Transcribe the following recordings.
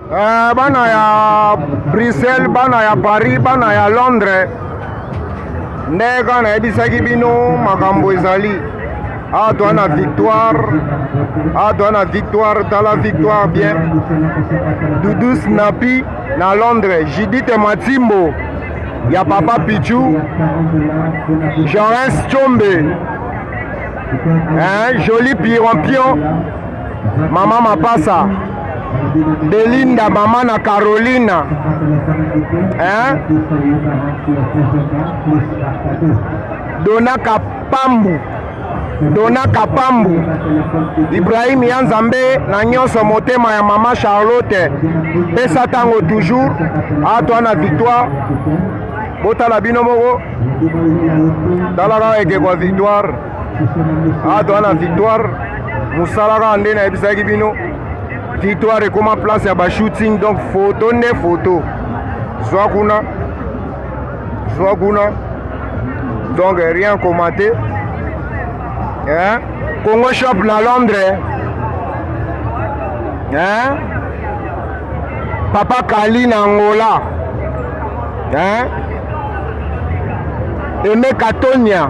Eh, bana ya Bruxelles, bana ya Paris, bana ya Londres, nde kaka nayebisaki bino makambo ezali awa toa na victoire awa toa na victoire tala victoire bien dudu snapi na londres judite matimbo ya papa pichu jorens chombe hein, joli pirampion Mama Mapasa, Belinda, mama na Carolina. Hein? Dona Kapambu. Dona Kapambu. Ibrahim Yanzambe na nyonso motema ya mama Charlotte. Pesa tango toujours. Atwa na victoire. Botala bino moko. Tala kaka ekeko victoire. awa ah, toza na victoire mosala kaka nde nayebisaki bino victoire ekoma place ya bashooting donc foto nde foto zwa kuna zwa kuna donc rien commente hein? congo shop na londres hein? papa kali na angola hein? eme katonia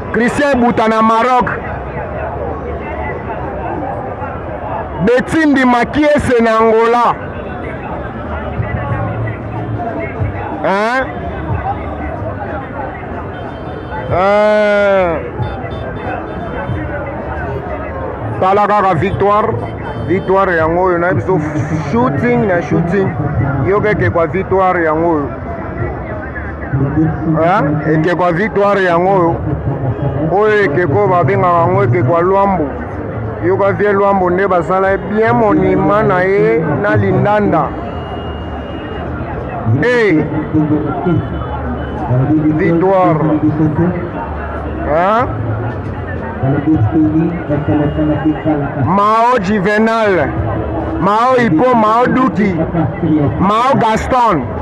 Christian Buta na Maroc. Betindi Makiese na Angola. Hein? Euh... tala kaka victoire victoire yango oyo na biso shooting na shooting yokeke kwa victoire yango oyo ekeko ya victoire yango oyo oyo ekeko babengaka yango ekeko ya lwambo yoka vie lwambo nde basala ye bien monima na ye na lindanda hey. victoire hein? mao juvenal mao ipo mao duki mao gaston